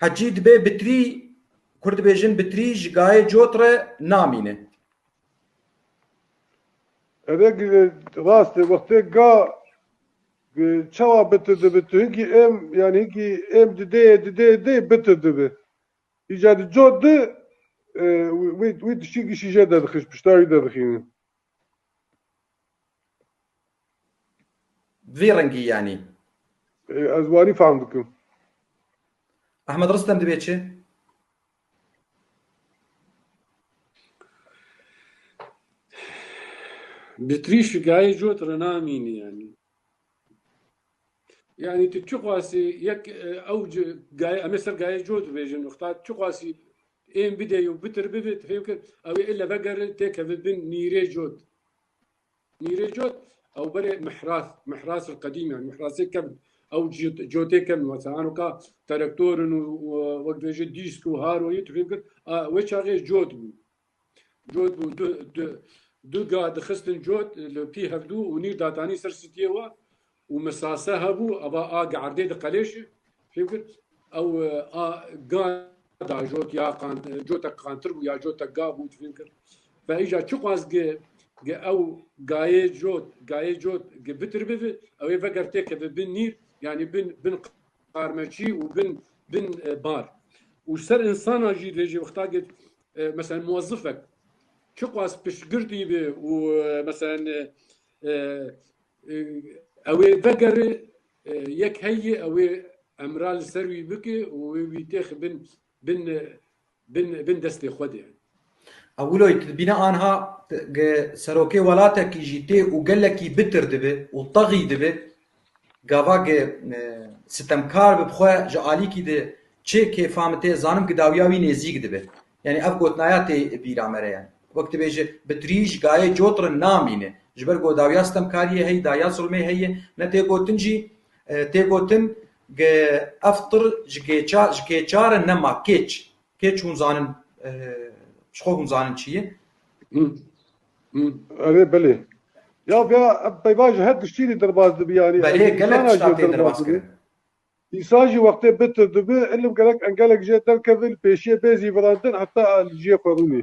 Hecî dibe bitrî, Kurd dibêjin bitrî ji gayê cot re namîne. Ev ê gire rast e. Wextê ga bi çawa bitir dibe tu hinkî êm yan hinkî êm dideyê dideyê dê bitir dibe. Îca di cot di wî wî tiştî gişîje derdixin ji pişta wî derdixînin. Vî rengî yanî. Ez wanî fehm dikim. Ahmed Ristem dibê çi? Bi trîşikayê cot rina mînî yanî. Yani tu çi xwasî yek ew gaye em ê ser gaye cot bêjin xta çi xwasî ên bidê û bitir bibit hêvke ew ê ille vegere têkeve bin nîrê cot nîrê cot ew berê mihras mihras li qedîm yani mihrasê kem ew cotê kem wasa an ka terektorin û wek bêje dîsk û haroyî tu fêvkir wê çaxê cot bû Cot bû du du du gah dixistin cot li pî hevdû û nîr datanî ser sitiyê we û misase hebû ava a gerdê diqelêşi fêm kir ew a ga da jot ya qan cotek qantir bû ya cotek ga bû fêm kir ve îja çi xwaz gi gi ew gayê cot gayê cot gi bitir bivi ew ê veger tê keve bin nîr yanî bin bin qarmeçî û bin bin bar û ser insana jî lê jê wexta git Meselen muwezifek çi qas piştgir dîbi û meselen ew ê vegerê yek heyî ew ê emra li ser wî bike û wê wî têx bin bin bin bin destê xwe de. Ewilo tu dibîne anha serokê welatekî jî tê û gelekî bitir dibe û texî dibe Gavagê sitemkar bi xwe ji alîkî di çê kêfa min tê zanim ki dawiya wî nêzîk dibe. Yanî ev gotinaya tê bîra me re ye. Wek tu bêjî bi trîj gayê cotrin namîne. Ji ber ku dawiya sitemkariyê heye, dawiya zilmê heye. Ne tê gotin jî tê gotin ki ev tir ji kêça ji kêça re nema. Kêç kêç hûn zanin ji xwe hûn zanin çi ye. Erê belê. Ya ya peyva ji her tiştî rê derbas dibî yanî. Belê gelek tiştan tê derbas kirin. Îsa jî wextê bitir dibi, ilim gerek engelek jê derkevin, pêşiyê bê zîvirandin heta li ciyê xwe rûnî.